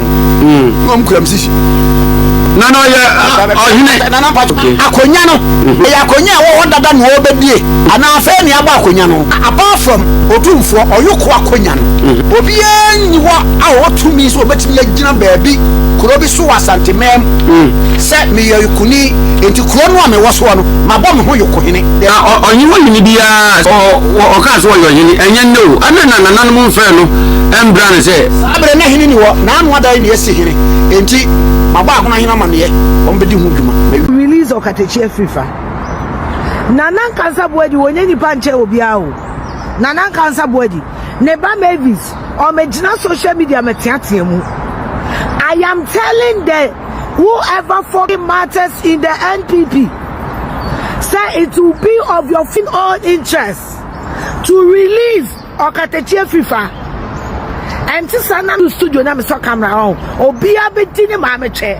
mm. na ɔm kura m sisi na na ɔyɛ ɔhene nana mpato akonnwa no mhm. ɛyɛ akonnwa a wɔwɔ dada na ɔbɛdie anaa afei ne abɔ akonnwa no apart from otumfoɔ ɔyoko akonnwa no mhm. obiara nyi hɔ a ɔwɔ tumi sɛ ɔbɛtumi agyina baabi kuro bi so wɔ asante mɛm mhm. sɛ meyɛ yokoni nti kuro no a mewɔ soɔ no mabɔ me ho yokohene na ɔnye wɔ hene biara ɔkaa sɛ ɔyɛ ɔhene ɛnyɛ nnɛ o ɛne na nananom mfrɛ no ɛmbra no sɛ Abere na hene ni hɔ, n'ano adan nea esi hene, enti mabɔ ahonahene amanneɛ, wɔbedi ho dwuma, ma. Release ɔkatakyi afiri fa. Nana Nkansah Boadi wɔ nyɛ nipa nkyɛn obiara o Nana Nkansah Boadi ne ba Mavis ɔmɛ gyina social media mɛ teatea mu I am telling the who ever fucking matters in the NPP sɛ it will be of your fucking own interest to release Ɔkatakyie firi fa ɛnte saa na me studio na mesɔ camera ɔn obiara bɛdi ne maame kyɛ.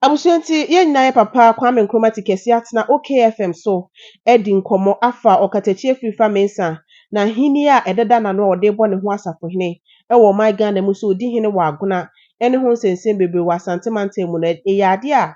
Abusua nti yɛn nyinaa yɛ papa Kwame Nkrumah te kɛseɛ atena OKFM so adi nkɔmmɔ afa ɔkatakyie firi fa Mensah na ahennie a ɛdeda n'ano a ɔde rebɔ ne ho asafohene wɔ ɔman Ghana mu sɛ ɔdi hene wɔ Agona ne ho nsɛnsɛm bebree wɔ Asante mantam mu no ɛyɛ adeɛ a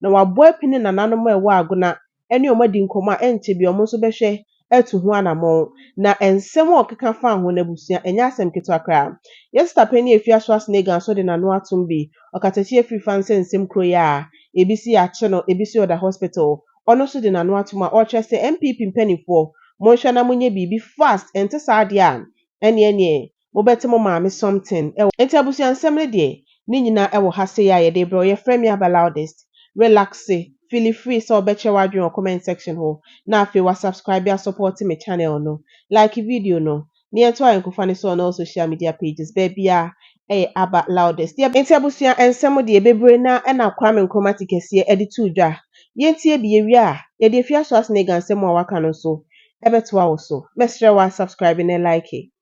Na wɔabɔ apini ne nananom a ɛwɔ Agona ne wɔn adi nkɔmmɔ a ɛnkyɛ biara wɔn nso bɛhwɛ atu ho anammɔn. Na nsɛm a ɔkeka faa wɔn abusua, ɛnyɛ asɛm ketewa koraa. Yɛn sista panyin a efi Asoasnega nso de n'ano atom bi. Ɔkatakyie afiri fa nsɛ nsɛm kuro yi a, ebi se yɛakye no, ebi se ɔda hospital. Ɔno nso de n'ano atom a ɔrekyerɛ sɛ, NPP mpanimfoɔ, monhwɛ na monyɛ biribi fast, ɛnte saa deɛ a, ɛnneɛ neɛ Mobɛte mo maame something wɔ. Nti abusua nsɛm no deɛ ne nyinaa wɔ ha sei a yɛde rebrɛ wo. Yɛfrɛ me Aba Loudest. Relaxe, feeli free sɛ wobɛkyerɛ w'adwene wɔ comment section hɔ na afei wa subscribe asɔpɔɔte me channel no. Like video no na yɛnto ayɛnkofa no so on all social media pages. Baabiara ɛyɛ Aba Loudest. Yɛb. Nti abusua nsɛm deɛ bebree no ara na Kwame Nkrumah te kɛseɛ de too dwa. Yɛntie bi, yɛwie a yɛde Afiaso Asene Gansɛm a waka no nso bɛtoa wo so. Mɛsrɛ wo a subscribe na like.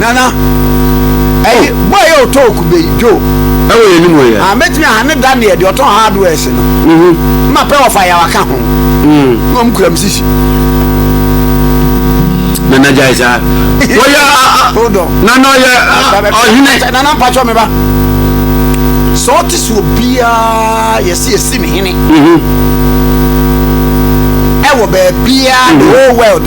nana ɛyi bɔ ɛyɛ ɔtɔ okube yi dwo ɛwɔ yɛ nimu yɛ a mɛtumi aha ne da neɛ deɛ ɔtɔn hardware se no mm-hmm. ma pɛ wɔfa yawa ka ho mm. na ɔm kura m sisi nana gyae saa wɔyɛ nana ɔyɛ ɔhene nana mpakyɛ me ba sɛ ɔte sɛ obiaa yɛse yɛsi ne hene ɛwɔ baabiaa the whole world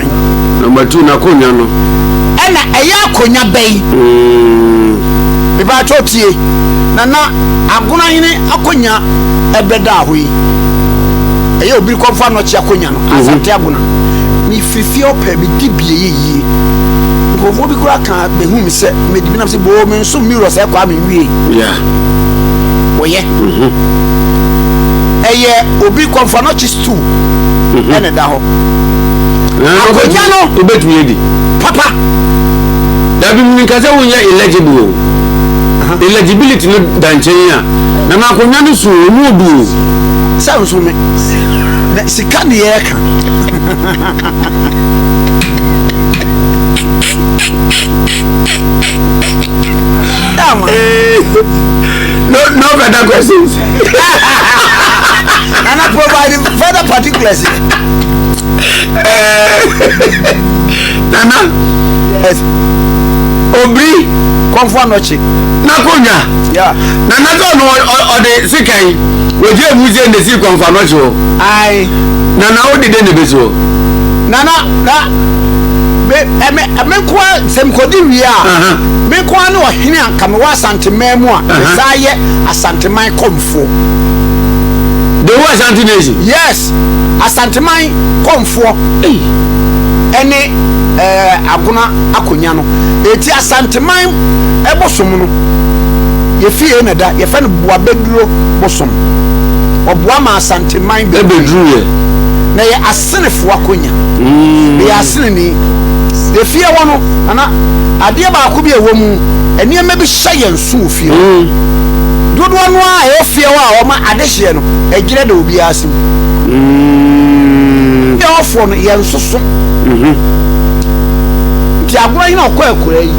Number two, n'akonya no. Ɛna ɛyɛ akonya bɛn? Mm. Mepatwa tie. Nana, agonahene akonya ɛbɛda aho yi. Ɛyɛ obi kɔfa nɔkye akonya no. Mhm. Asante agona. Mefiri fie ɔpɛ, medi bie yɛ yie. Nkurɔfoɔ bi koraa ka bɛhu me sɛ, medi bi nam sɛ, boo, me nso mirror sɛ ɛkɔ a menwie. Yeah. Wɔyɛ. Mm -hmm. ɛyɛ obi kɔmfa no kyi stool mhm. ɛna ɛda hɔ akonnwa no wobɛtumi adi papa dabi meka sɛ wonyɛ illegible o illegibility no da nkyɛn a na ma akonnwa no so ɔmu odu o sɛ nso me na sika ne yɛka no, no better questions. Nana provide further particulars. Nana. Yes. Obri. Kɔnfɔ anɔkye. N'akonya. Yeah. Nana sɛ ɔno ɔde sika yi wògye emu sɛ ne si kɔnfɔ anɔkye o. Ayi. Nana o de de ne bɛ so. Nana na ɛmɛ ɛmɛ nkoa sɛmkodi wia. Mɛ nkoa ne ɔhene a kame wɔ asante mɛn mu a. Ɛsɛ ayɛ. Asanteman kɔmfoɔ. The whole Asante nation? Yes. Asanteman kɔmfoɔ ɛne eh, Agona Akonya no. Eti Asanteman ɛbosom no, yɛfie na da, yɛfɛ no Boabɛduro bosom. Ɔboa ma Asanteman bɛduro yɛ. Na yɛ Asenefoɔ akonya. Mm. Yɛ Aseneni. Yɛfie hɔ no, ana adeɛ baako bi a ɛwɔ mu, nneɛma bi hyɛ yɛn so wɔ fie hɔ. Dodoɔ no ara a ɛyɛ fie hɔ a wɔma adehyeɛ no, ɛgyerɛ da obiara ase mu. Fie hɔfoɔ no, yɛnsoso. Nti agorɔ yi na ɔkɔ akuraa yi,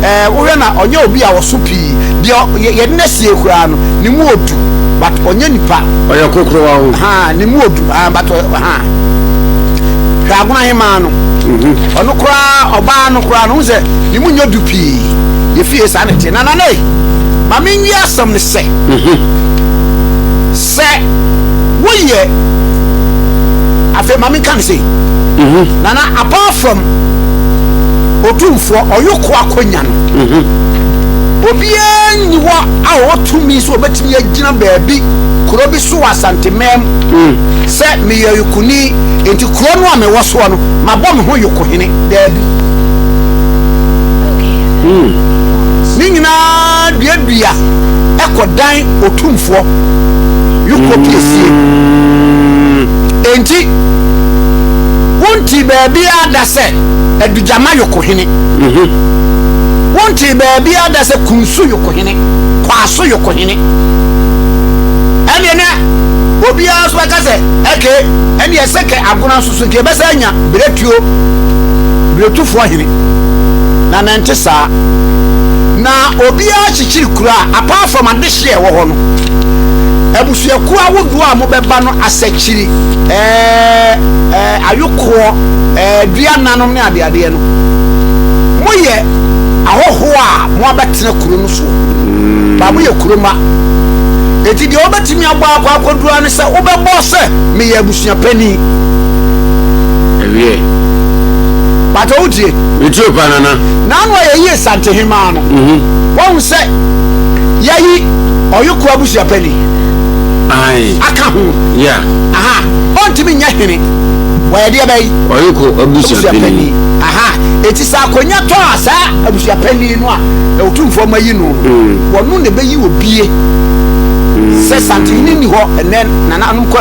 ɛɛ wohwɛ na ɔnyɛ obi a ɔso pii. Deɛ yɛ yɛde no asie koraa no, ne mu odu, but ɔnyɛ nipa. Ɔyɛ kokorowa o. Haa ne mu odu, haa but ɔyɛ haa. Hwɛ agorɔ ahemaa no. Ɔno koraa ɔbaa no koraa no, wohu sɛ ne mu nyɛ du pii. yɛfie saa ne te nana ne ma menwie asɛm ne sɛ mhm. sɛ woyɛ afei ma menka ne sei mhm. nana apart from otumfoɔ ɔyoko akɔnya no mhm. obiara nni hɔ a ɔwɔ tumi sɛ ɔbɛtumi agyina baabi kuro bi so wɔ asantemam mm. sɛ meyɛ yokoni nti kuro no a mewɔ soɔ no mabɔ me ho yokohene daabi Ne nyinaa duadua kɔ dan otumfoɔ Yukko piesie. Enti, wontee baabiara da sɛ Adugyama Yukko hene. Wontee baabiara da sɛ Kunsu Yukko hene, Kwaso Yukko hene. Ɛnneɛ na obiara nso bɛka sɛ, okay, ɛnneɛ sɛ kɛ Agona nso. So nka yɛbɛsan anya berɛtuo berɛtufoɔ hene? Na na ɛnte saa. Na obiara kyekyere kuro a, apart from adehyeɛ a ɛwɔ hɔ no, abusuakuo ahodoɔ a wɔbɛba no, asɛkyiri, ɛɛ, ayokoɔ, ɛɛ, duananom ne adeadeɛ no, moyɛ ahɔhoɔ a wɔabɛtena kuro no soɔ. Ba moyɛ kuro mma. Enti deɛ wobɛtumi abɔ akɔ akɔduru ara ne sɛ wobɛbɔ sɛ meyɛ abusua. abusua panin. Ɛwiee. Pato wo tie. Me tie pa nana. Naanu a yɛyi Asante hemaa no. Mhm. Wahu sɛ yɛyi ɔyoko abusua panin. Ayi. Aka ho. Yeah. Aha. Ɔntumi nyɛ hene. Wɔyɛ deɛ bɛyi. Ɔyoko abusua panin. Aha. Eti sɛ akonya tɔ a saa abusua panin no a ɛwotumfoɔ ma yi no. Mm. Wɔno na ɛbɛyi obie. Mm. Sɛ santehene ni hɔ ɛnɛ nana anom kɔ.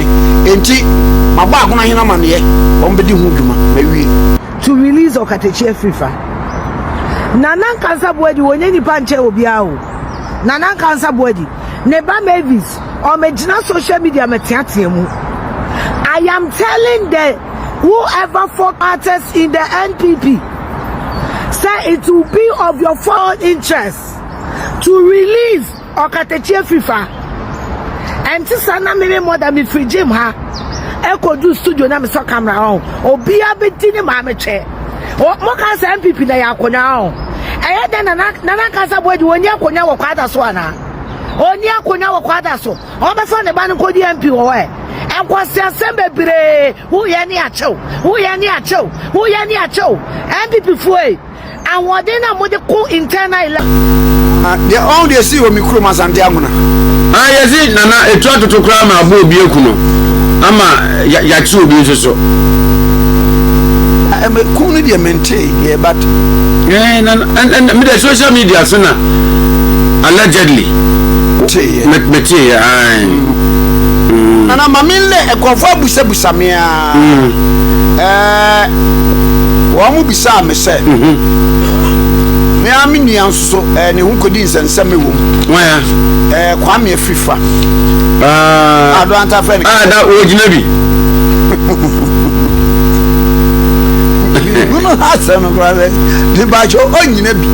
Enti, mabɔ Agona hene amanneɛ, wɔbɛdi ho dwuma. Mawie. To release Ɔkatakyi afiri fa. Nana Nkansah Boadi wɔnyɛ nnipa nkyɛn obiara o. Nana Nkansah Boadi, ne ba Mavis, wɔagyina social media mɛteatea mu. I am telling the who ever folk artist in the NPP sɛ it will be of your foreign interest to release Ɔkatakyie firi fa. Ɛnte saa na meme mmɔ da mefiri gym ha ɛkɔdu studio na mesɔ camera ɔn obiara bɛdi ne maame kyɛ moka sɛ mpp na yɛ akonnwa ɔn ɛyɛ dɛn na na nankasa boadi ɔni akonnwa wɔ kwada so anaa ɔni akonnwa wɔ kwada so ɔbɛfa ne ba no nkɔdi mp wɔ hɔ ɛ ɛkwasi asɛm bebree woyɛ ne akyɛw woyɛ ne akyɛw woyɛ ne akyɛw mpp foe Ahoɔden no a mode ko internal election. Ah deɛ ɔn deɛ esii wɔ me kurom Asante Amona. Ah yɛsi Nana etu atoto koraa ma abɔ obi aku no ama yakye obi nso so. Ah ɛmɛ kum no deɛ mentee deɛ but. Ɛɛ eh, Nana ɛn ɛn mi deɛ social media so na allegedly. Tee yɛ. Mɛ mɛ tee yɛ ayi. Nana maame nlɛ ɛkɔfɔ abusabusa mea. Ɛɛ, wɔbisaa me sɛ, me ara me nua nso so, ɛɛ, ne ho kɔdi nsɛnsɛm wɔ mu. Wɔn a? Ɛɛ, Kwame Afrifa. Aa. Ado Anta fɛ ne. Aa, da wɔgyina bi. Hunu asɛm no koraa sɛ, ne bakyɛ ɔnyina bi.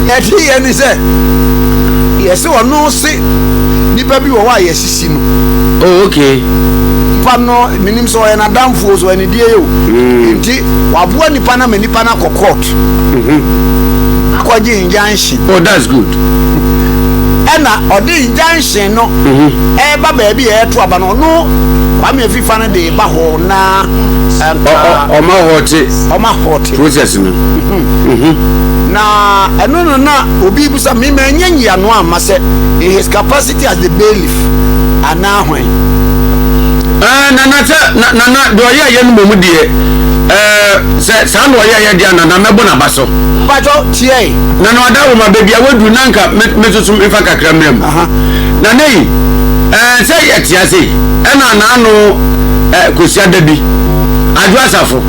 Ɛte yɛ ne sɛ, yɛse ɔno se nipa bi wɔ hɔ a yɛse. si no. Oh okay. Nipa no menim sɛ ɔyɛ n'adamfo o, sɛ ɔyɛ ne deɛ yɛ o. Mm. Nti waboa nipa no ama nipa no akɔ court. Mm -hmm. Akɔgye injunction. Oh that's good. Ɛna ɔde injunction no mm-hmm. ɛreba baabi a ɛreto aba no ɔno kwame afifa no de ba hɔ na ɔma hɔte ɔma hɔte process no mhm. Mhm. na ɛno no na obi bisa me ma ɛnyɛ nyiano ama sɛ in his capacity Te ase bailiff anaa hwan. Ɛɛ nana sɛ na nana deɛ ɔyɛ yɛ no mom deɛ ɛɛ sɛ saa na ɔyɛ yɛ deɛ a nana mɛbɔ n'aba so. Mpatsɔ tiɛ yi. Nana ɔda wɔ ma baabi a waduru na nka me me soso mefa kakra mmerɛ mu. Nana yi ɛɛ sɛ yɛ te ase ɛna anaano ɛɛ kɔsia da bi adwo asafo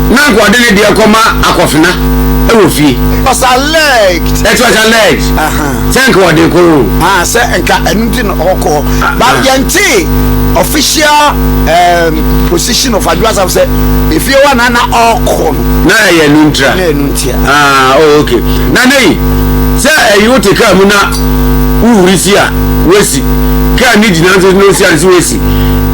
na nka ɔde ne deɛ kɔma akɔfena ɛwɔ fie. Mpatsɔ alleged. Ɛti ɔsɛ alleged. Sɛ nka ɔde kɔ o. Ah, sɛ nka ɛno nti na ɔkɔ. But yɛnte official um, position of Adwo Asafo sɛ efie hɔ na na ɔkɔ no. Na ɛyɛ no ntira. Na ɛno ntia. Ah, oh, okay. Na ne yi, sɛ ɛyi wote kaa mu na wohuri si a, woasi. Kaa ne gyina nso na osi ade so woasi.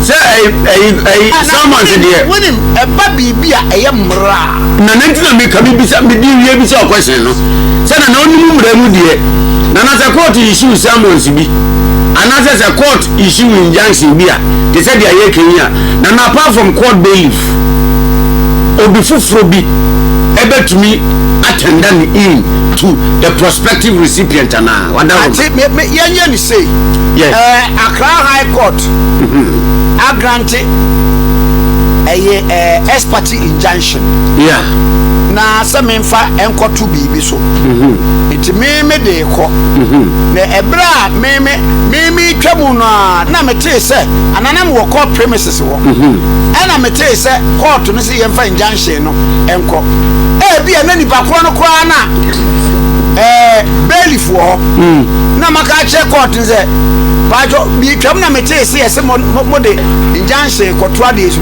Sɛ ɛyi, ɛyi, ɛyi, ah, samanse deɛ. Wonim, ɛba biribi a ɛyɛ mmara. Na nti na meka mebisa mede wie bisa ɔkwɛhyɛn no sɛ na na ɔnim mmara mu deɛ na na sɛ court issue summons bi anaasɛ sɛ court issue injunction bi a te sɛ deɛ ayɛ kan yi a na na apart from court bailiff obi foforɔ bi ɛbɛtumi atɛnda ne in to the prospective recipient anaa wada hɔ ate me me yɛnyɛ ne sei Yes. ɛɛ akra high court agrante ɛyɛ ɛɛ expert di injunction. Yeah. Na sɛ memfa nkɔto biribi so. Mm-hmm. Nti me me de kɔ. Mm-hmm. Na ɛberɛ a me me me me twa mu no a na metee sɛ ananam wɔ court premises hɔ. Mm-hmm. Ɛna metee sɛ court no sɛ yɛmfa injunction no nkɔ. Ebi a na nipa korɔ no koraa na ɛɛ bailiff wɔ hɔ. Mm. Na maka akyerɛ court no sɛ. Pacho, me twa mu na metee sɛ yɛsɛ mo de injunction kɔto adeɛ so.